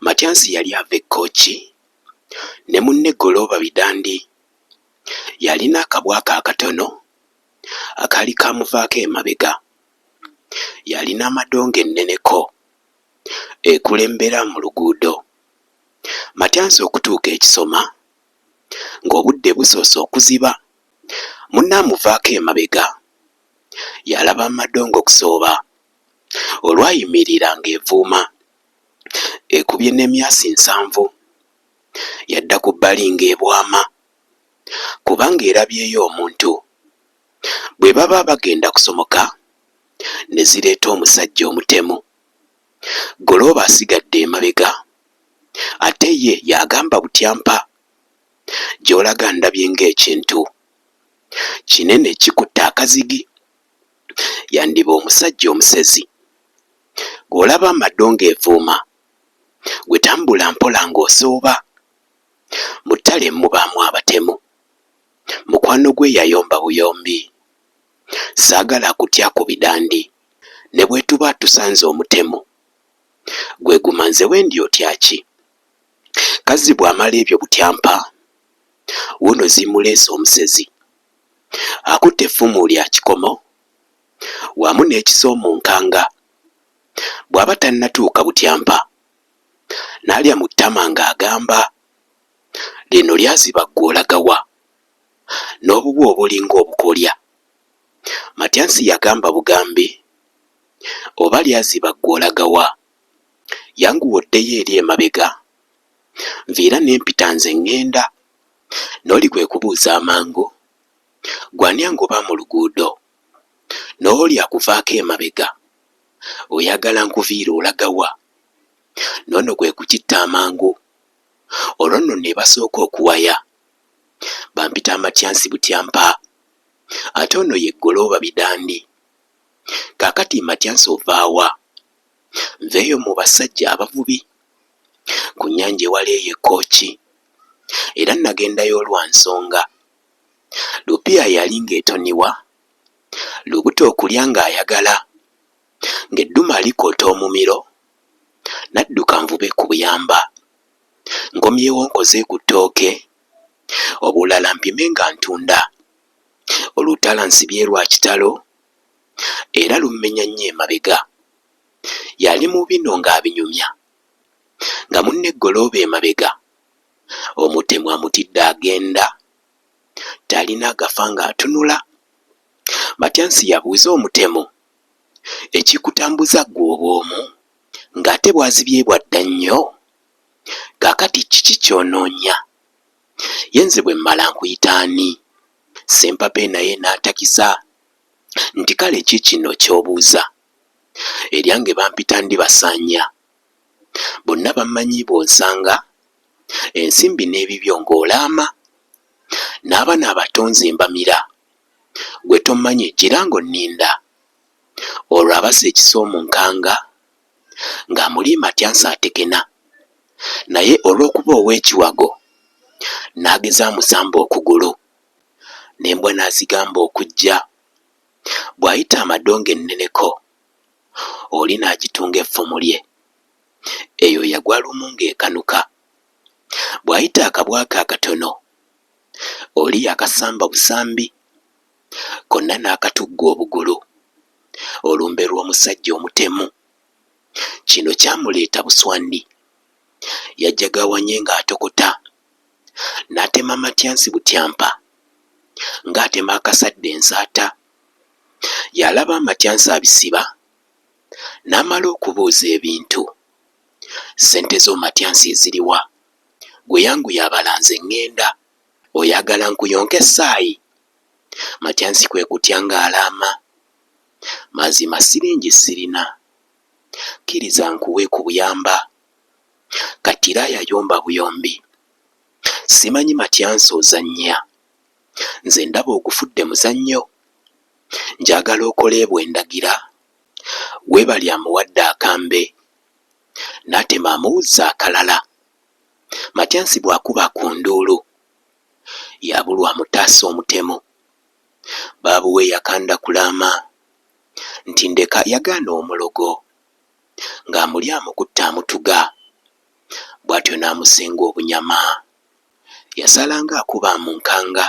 Matyansi yali ava e Kooki ne munne Golooba Bidandi. Yalina akabwa ke akatono akaali kaamuvaako emabega. Yalina amadongo enneneko ekulembera mu luguudo. Matyansi okutuuka e Kisoma ng'obudde busoose okuziba, munne amuvaako emabega. Yalaba amadongo Kusooba olwayimirira ng'evuuma. ekubye n'emyasi nsanvu yadda ku bbali ng'ebwama kubanga erabyeyo omuntu. Bwe baba bagenda kusomoka ne zireeta omusajja omutemu. Golooba asigadde emabega ate ye y'agamba butyampa, gy'olaga ndabye ng'ekintu kinene kikutte akazigi, yandiba omusajja omusezi. Gwe olaba amaddo ng'evuuma Gwe tambula mpola ng'osooba Mu ttale mubaamu abatemu Mukwano gwe yayomba buyombi Saagala kutya ku bidandi Ne bwetuba tusanze omutemu Gwe guma nze wendi otya ki? Kazzi bw'amala ebyo butyampa Wuuno zimuleese omusezi Akutte effumu lya kikomo wamu n'ekisoomonkanga bw'aba tannatuuka butyampa n'alya mu ttama ng'agamba, Lino lyaziba ggwe olaga wa? N'obubwa obulinga obukolya. Matyansi yagamba bugambi, Oba lyaziba ggwe olaga wa? Yanguwa oddeyo eri emabega, nviira ne mpita nze ŋŋenda. N'oli kwe kubuuza amangu, Ggwe ani angoba mu luguudo? N'oli akuvaako emabega, oyagala nkuviire olaga wa? N'ono kwe kukitta amangu, olwo nno nebasooka okuwaya. Bampita Amatyansi Butyampa, ate ono ye Ggolooba Bidandi. Kaakati Matyansi ova wa? Nveeyo mu bassajja abavubi ku nnyanja ewala eyo e Kkooki, era nagendayo lwa nsonga. Lupiya yali ng'etoniwa, lubuto okulya ng'ayagala, ng'eddume alikoota omumiro, nadduka nvube ku buyamba, nkomyewo nkoze ku ttooke, obulala mpime nga ntunda. Olutala nsibye lwa kitalo era lummenya nnyo emabega. Yali mu bino ng'abinyumya nga munne Ggolooba emabega. omutemu amutidde agenda talina gafa nga atunula Matyansi yabuuza omutemu ekikutambuza gwe obwomu nga ate bwazibye bwadda nnyo kakati kiki kyononya ye nze bwemmala nkuyita ani Ssempape naye natakiza nti kale kikino kyobuuza eryange bampita Ndibasanya. bonna bammanyi bw'onsanga ensimbi n'ebibyo ng'olaama n'abana abato nze mbamira gwe tommanyi gira ng'onninda olwo abasa ekisa omunkanga ng'amuliima atya nsaatekena naye olw'okuba ow'ekiwago n'ageza amusamba okugulu n'embwa n'azigamba okujja bw'ayita amadongo enneneko. oli n'agitunga effumu lye. Eyo yagwa lumu ng'ekanuka. Bw'ayita akabwa ke akatono, oli yakasamba busambi, konna n'akatugga obugulu, olumbe lw'omusajja omutemu. Kino kyamuleeta buswandi. Yajagawanye ng'atokota, n'atema matyansi butyampa, ng'atema akasadda ensaata. Yalaba amatyansi abisiba n'amala okubuuza ebintu, Ssente zo Matyansi eziriwa? Ggwe yanguya abala nze ng'enda. Oyagala nkuyonke ssaayi? Matyansi kwe kutya ng'alaama, Mazima ssiringi ssirina. Kkiriza nkuwe ku buyamba. Kattiraaya yomba buyombi. Simanyi Matyansi ozannya? nze ndaba ogufudde muzannyo njagala okole bwendagira webali amuwadde akambe natema amuwuzza akalala matyansi bwakuba ku nduulu yabulwa amutaasa omutemu baabuwe yakanda kulaama nti ndeka yagaana omulogo ng'amulya amukutte amutuga bwatyo n'amusenga obunyama. Yasalanga akuba mu nkanga,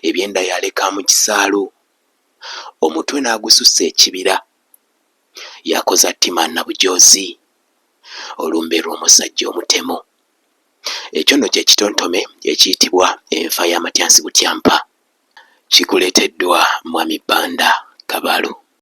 ebyenda yaleka mu kisaalu, omutwe n'agusussa ekibira. Yakoza ttima Nabujoozi, olumbe lw'omusajja omutemu. Ekyo nno kye kitontome ekiyitibwa enfa ya Matyansi Butyampa. Kikuleeteddwa Mwami Banda Kabalu.